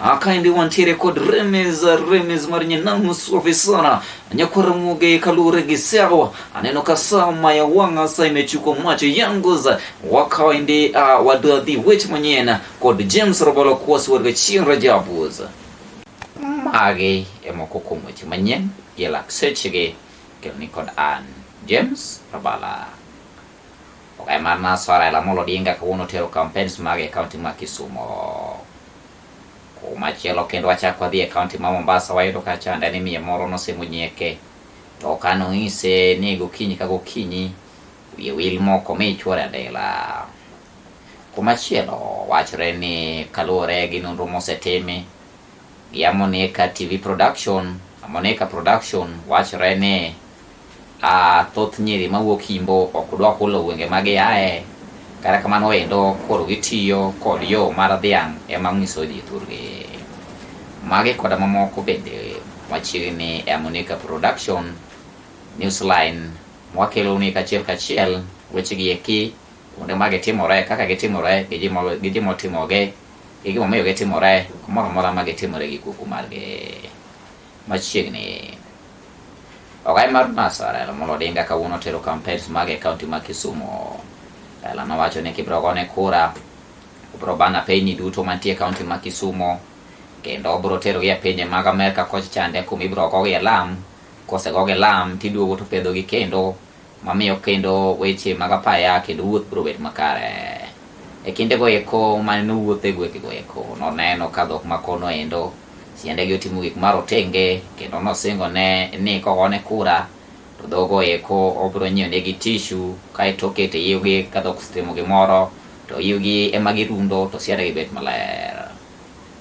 akaende wantiere kod remes remes mar nyanam suafi sana nyakwara muge kalure gi sawa aneno ka sama ya wanga sa imechuko macho yangu za wakaende uh, wadadhi wech manyena kod james robolo kuwasi warga chieng rajabuza mage emoko kuom weche manyien yelak sechege kelni kod an james rabala Okay, mana swala ya Lamolo Odinga kawuono tero campaigns mage e kaunti ma Kisumo. Kumachielo kendo wachako wadhi e kaunti ma Mombasa wayudo ka chanda ni miyo moro nosemo nyeke to kano ise ni gokinyi ka gokinyi wiye wil moko mi chwore adela. Kumachielo wachre ni kaluwore gi nonro mosetimi ya Moneka TV production, Moneka production wachore ni a thoth nyiri mawuok Imbo ok dwa hulo gwenge ma giaye, kata kamano endo koro gitiyo kod yo mar dhiang' ema nyiso ji thurgi. Magi koda mamoko bende machiegni e Moneka production newsline mwakelo ni kachiel kachiel wechegi eki kuonde ma gitimore kaka gitimore gi ji motimogi E gimomiyo gitimore kumoro amora ma gitimore gi kuku margi machiegni. Ogai mar NASA Raila Amolo Odinga kawuono tero campaigns mage e kaunti ma Kisumu. Raila nowacho ni kibiro gone kura, obiro ban apeyni duto mantie e kaunti ma Kisumu kendo obiro terogi e pinje mag Amerka koch chande kuma ibiro gogi e lam, kosegogi e lam tiduogo to pedhogi kendo mamiyo kendo weche mag apaya kendo wuoth biro bet makare. E kinde go eko mane nowuotho e gwenge go eko noneno ka dhok ma kono endo siende gi otimo gik marotenge kendo nosingo ne ni kogone kura to dhogo eko obiro nyiewo ne gi tishu kaeto okete yiwgi ka dhok osetimo gimoro to yiwgi ema girundo to siende gi bet maler.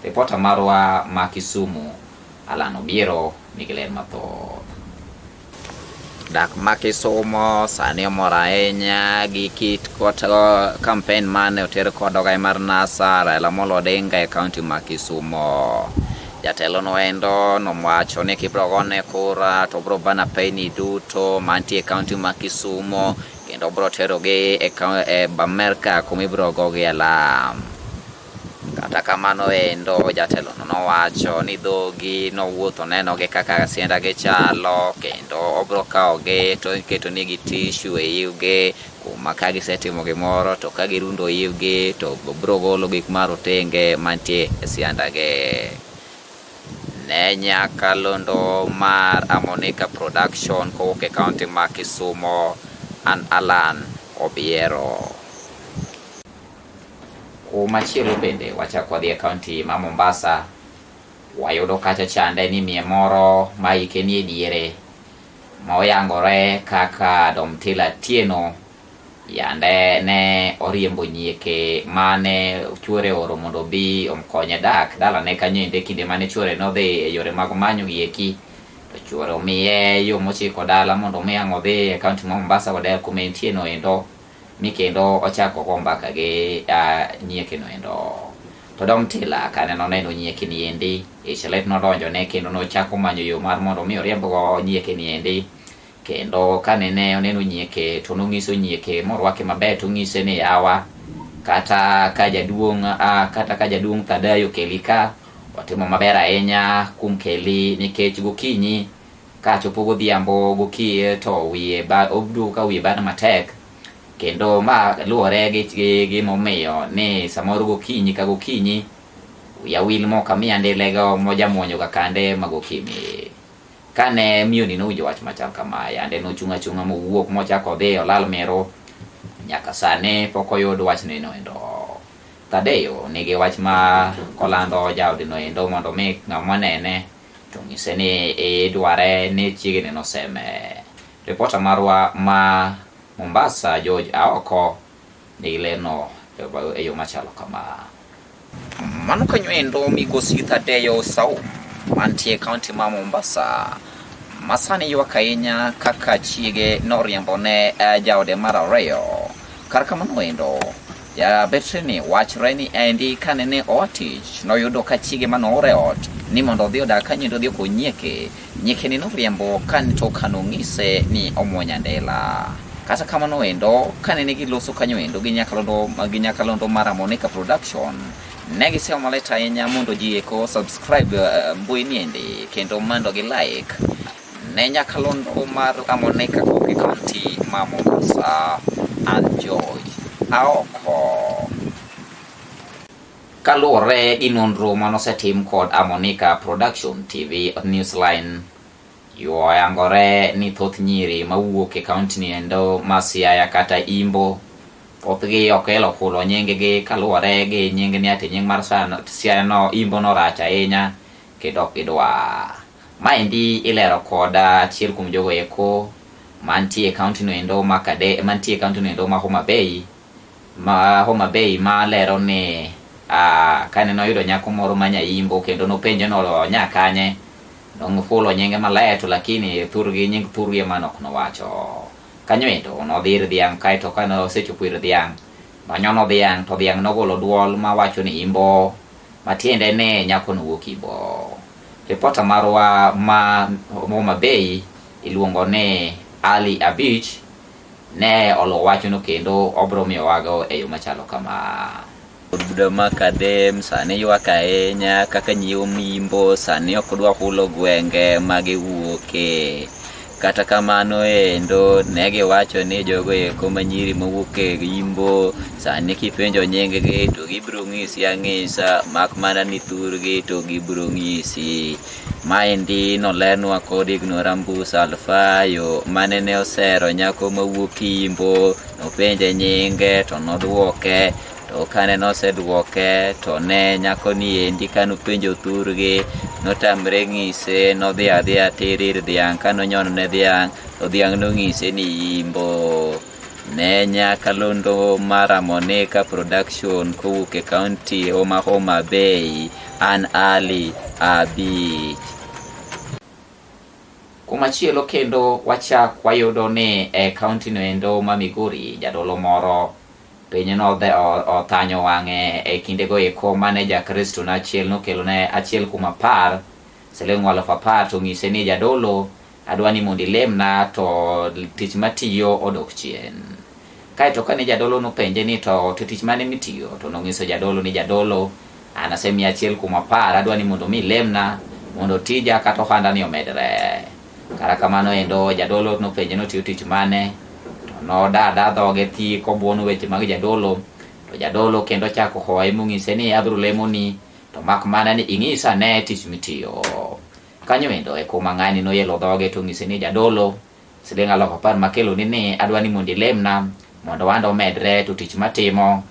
Ripota marwa ma Kisumu Alan Obiero nigi ler mathoth. Dak ma Kisumo sani omor ahinya gi kit kampen uh, mane oter kod ogai mar NASA Raila Amolo Odinga e kaunti ma Kisumo. Jatelo no endo nowacho ni kibro gone kura to bro bana peyni duto mantie e kaunti ma Kisumo kendo bro terogi e, e Amerka kuma ibro gogi alam. Kata kamano endo jatelono nowacho ni dhogi nowuotho nenogi kaka siendagi chalo kendo obro kawogi to iketonigi tishu e iwgi kuma ka gisetimo gimoro to ka girundo iwgi to bro golo gik marotenge mantie e siandagi. Ne nyaka londo mar Amonika Production kowuok e kaunti ma Kisumo, an Allan Obiero. Kumachielo bende wachako wadhi e kaunti ma Mombasa, wayudo kacha chande ni mie moro ma hike nie diere ma oyangore kaka Domtila Tieno yande ne oriembo nyieke mane chuore oro mondo obi omkonye dak dalane kanyo ende kinde mane chuore nodhi e yore mag manyo gieki to chuore omiye yo mochiko dala mondo omi ang' odhi e kaunti ma Mombasa koda kuma entieno endo mi kendo ochako go mbaka gi nyieke no endo to dom tila kane noneno nyieke ni endi ichelet nodonjo ne kendo nochako manyo yo mar mondo mi oriemb go nyieke ni endi kendo kane ne oneno nyieke to nonyiso nyieke morwake maber to onyise ni yawa kata ka jaduong' kata ka jaduong' Thadayo keli ka watimo maber ahinya kuom keli nikech gokinyi Ka chopo godhiambo gokiye to wiye ba obdu ka wiye bana matek kendo ma luwore gi gi- gi momiyo ni samoro gokinyi ka gokinyi yawil moko amiya ndilego mojamuonyo ga kande magokimi kane miyoni nowinjo wach machal kama yande nochung' achung'a mowuok mochako odhi olal miro nyaka sani pok oyud wachno enoendo Thadeo nigi wach ma kolando jaodino endo mondo mi ng'ama nene To nyise ni idware ni chiegni noseme. Ripota marwa ma Mombasa George Aoko nigi leno e yo machalo kama. Mano kanyo endo migosi Thadeyo Saum mantie kaunti ma Mombasa masani ywak ahinya kaka chiege noriembone eh, jaode mar ariyo. Kar kamano endo Jabetrini wachre ni endi kane ne oa tich noyudo ka chiege ma noore ot ni mondo odhi odag ka nyendo odhi okony nyieke. Nyieke ni noriembo kane to kano ng'ise ni omwonya andela. Kata kamano endo kane ne giloso kanyo endo gi nyakalondo gi nyakalondo mar Amonika Production ne giseo malit ahinya mondo ji eko subscribe uh, mbui niendi kendo mondo gi like Ne nyakalondo mar Amone Kagoge County ma Mombasa and Joy aoko. Kaluwore gi nonro manosetim kod Amonika Production TV Newsline yuoyangore ni thoth nyiri mawuok e kaunti ni endo ma Siaya kata Imbo thothgi ok elo kulo nyinggi kaluwore gi nying ni ati nying mar Siaya no Imbo no rach ahinya kendo ok gidwar. Maendi ilero kod achiel kuom jogo eko mantie e kaunti no endo ma Kade, mantie e kaunti no endo ma Homa Bay ma Homa Bay ma lero ni ah, kane noyudo nyako moro ma nyaimbo kendo nopenje ni onya kanye nofulo nyinge maler to lakini thurgi nying thurgi ema nok nowacho kanyo endo nodhi ir dhiang' kaeto kane osechopo ir dhiang' nonyono dhiang' to dhiang' nogolo dwol mawacho ni imbo matiende ni nyako nowuok imbo Ripota marwa ma Homa Bay iluongo ni Ali Abich ne oluwo wachno kendo obro miyowago e yo machalo kama. Buda ma Kadem sani ywak ahinya kaka nyiwo mimbo sani ok dwa hulo gwenge ma giwuoke. Kata kamano endo ne giwacho ni jogo eko ma nyiri mowuok e Imbo sani kipenjo nyinggi to gibiro ng'isi ang'isa mak mana ni thurgi to gibiro ng'isi. Maendi nolenwa kod Ignorambus Alfayo mane ne osero nyako mawuok Imbo nopenje nyinge to nodwoke To kane nosedwoke, to ne nyako niendi ka nopenjo thurgi, notamre ng'ise, nodhi adhiya tir ir dhiang' ka nonyono ne dhiang', to dhiang' nong'ise ni yimbo. Ne nyakalondo mara Monica Production kowuok e kaunti Homa Homa Bay, an Ali Abich. Kumachielo kendo wachak wayudo ni e kaunti noendo ma Migori, jadolo moro Piny nodhe othanyo wang'e e kindego eko mane Jakristo na achiel nokelone achiel kuom apar siling' alufu apar to onyise ni jadolo adwa ni mondo ilemna to tich matiyo odok chien. Kaeto kane jadolo nopenje ni to to tich mane mitiyo to nong'iso jadolo ni jadolo an asemiya achiel kuom apar adwa ni mondo mi ilemna mondo tija kata ohandani omedre. Kata kamano endo jadolo nopenje ni otiyo tich mane, to nodada dhoge thi kobuono weche mag jadolo. To jadolo kendo ochako hoye mong'ise ni abiro lemoni, to mak mana ni ing'isa ane tich mitiyo. Kanyo endo e kuma ng'ani noyelo dhoge to ong'ise ni jadolo, siling' alufu apar makeloni ni adwa ni mondo ilemna mondo ohanda omedre to tich matimo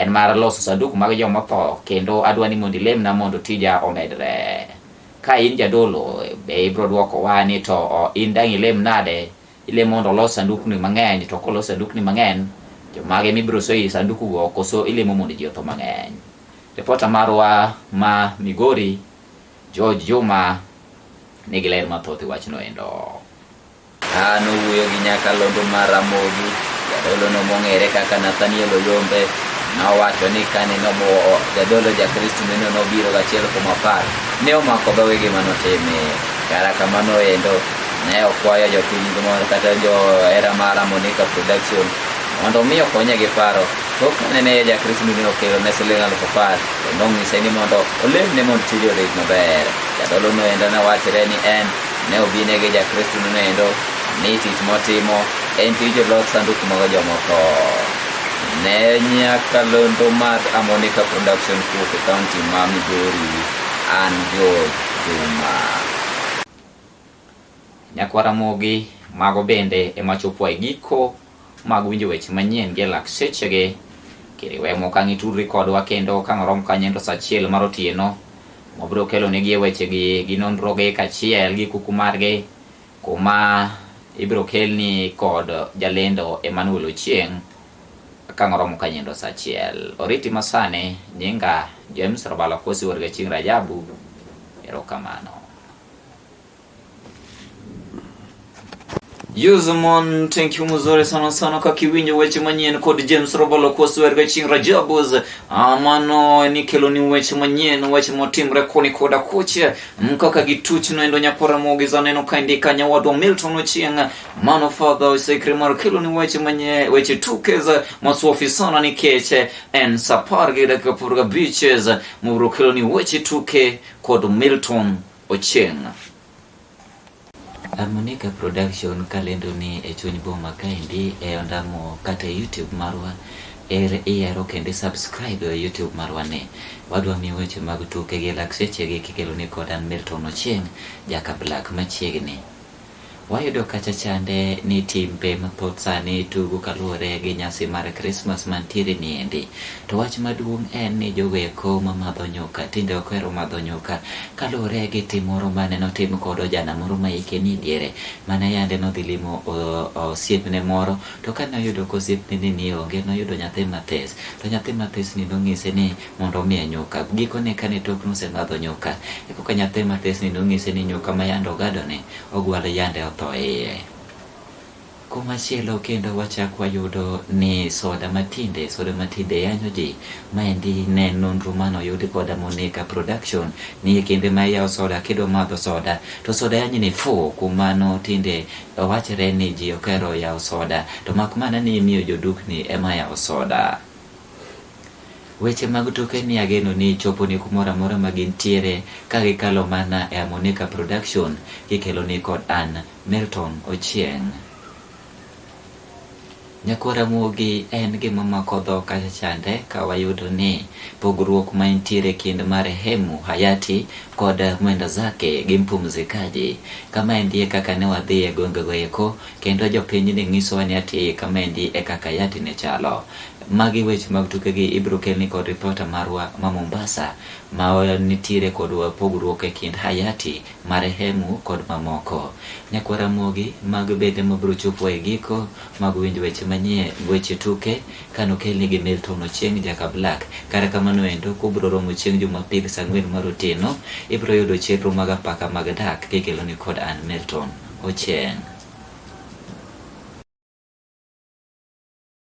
En mar loso sanduku mag joma otho, kendo adwa ni mondo ilemna mondo tija omedre. Ka in jadolo, be ibiro dwokowa ni to o, in dang' ilem nade? Ilem mondo olos sandukni mang'eny, to kolos sandukni mang'eny, jomage mibiro so ei sandukugo, koso ilemo mondo ji otho mang'eny? Ripota marwa ma Migori, George Juma, nigi ler mathoth e wachno endo. Ka nowuoyo gi nyakalondo mar Ramogi, jadolono mong'ere kaka Nathaniel Oyombe nowacho ni kane nomuwo jadolo Jakristo neno nobiro gachiel kuom apar, ne omako dhoge gima notime. Kara kamano endo, ne okwayo jopiny mor kata johera mar Amonika Production mondo omi okonye gi paro tok kane ne Jakristo ne okelo ne siling aluf apar kendo onyise ni mondo olemne mondo tije odhi maber. Jadolono endo ne wachre ni en Ne obinege Jakristo noendo ni tich motimo en tij lok sanduku mag jomotho. Ne nyakalondo mar Amonica Production Group e kaunti ma Migori an George Juma. Nyakwara mogi mago bende ema chopo e giko mag winjo weche manyien gi e lak sechegi. Kiriwe mok ang' itudri kodwa kendo ka ng'orom kanye to sa achiel mar otieno wabiro kelonegi e wechegi gi nonrogi kaachiel gi kuku margi kuma ibiro kelni kod jalendo Emmanuel Ochieng' ka ng'oromo kanye to sa achiel. Oriti masani nyinga James Rabalo Kosi Warga Chieng' Rajabu. Erokamano. Yuzumon, thank you mzuri sana sana kwa kiwinyo weche manyien kod James Robalo kwa swer ga ching Rajabuz amano ni kelo ni weche manyien weche motimre koni koda kuche mkaka gituch no endo nyapora mogi za neno kaindi kanya wadwa Milton Ochieng mano father osekre mar kelo ni weche manye weche tukeza maswafi sana ni keche en sapar gi dakika purga beaches mubro kelo ni weche tuke kod Milton Ochieng'. Harmonica Production kalendo ni e chuny boma kaendi e ondamo kata e YouTube marwa er iyaro kendo subscribe e YouTube marwa ni. Wadwa mi weche mag tuke gi lakseche gi kikelo ni kodan Milton Ochieng' jaka Black machiegni. Wayudo kacha chande ni timbe mathoth sani tugo kaluwore gi nyasi mar Krismas mantiere niendi. To wach maduong' en ni jogoeko mamadho nyuka tinde ok ohero madho nyuka kaluwore gi tim moro mane notim kod ojana moro ma hike ni diere mane yande nodhi limo osiepne moro to kane oyudo ka osiepne ni onge noyudo nyathi mathis to nyathi mathis ni nong'ise ni mondo omiye nyuka. Gikone kane tokno osemadho nyuka, e koka nyathi matisni nonyise ni nyuka ma yande ogadone ogwal yande otho e iye. Kumachielo kendo wachak wayudo ni soda matinde soda matinde yanyo ji. Maendi ne nonro mane oyudi koda Monica Production ni e kinde ma iyawo soda kidwa madho soda to soda yanyi ni fu. Kuom mano tinde wachre ni ji okero yawo soda to mak mana ni imiyo jodukni ema yawo soda. Weche mag tuke ni ageno ni choponi kumoro amora ma gintiere ka gikalo mana e Amonica Production kikeloni kod an Milton Ochieng'. Nyakwar Ramogi en gima mako dho kacha chande ka wayudo ni pogruok ma intiere kind marehemu Hayati kod Mwenda Zake gi Mpumzikaji. Kama endie kaka ne wadhi e gwengego eko kendo jopiny ne ng'isowa ni ati kama endi e kaka Hayati ne chalo. Magi weche mag tukegi ibiro kelni kod ripota marwa ma Mombasa ma nitiere kod pogruok e kind Hayati, Marehemu kod mamoko. Nyakwa Ramogi mag bende mabiro chopo e giko mag winjo weche manyie weche tuke kano kelni gi Milton Ochieng Jaka Black. Kata kamano endo kubiro romo chieng' Jumapil saa ang'wen mar otieno ibiro yudo chenro mag apaka mag dak kikeloni kod an Milton Ochieng'.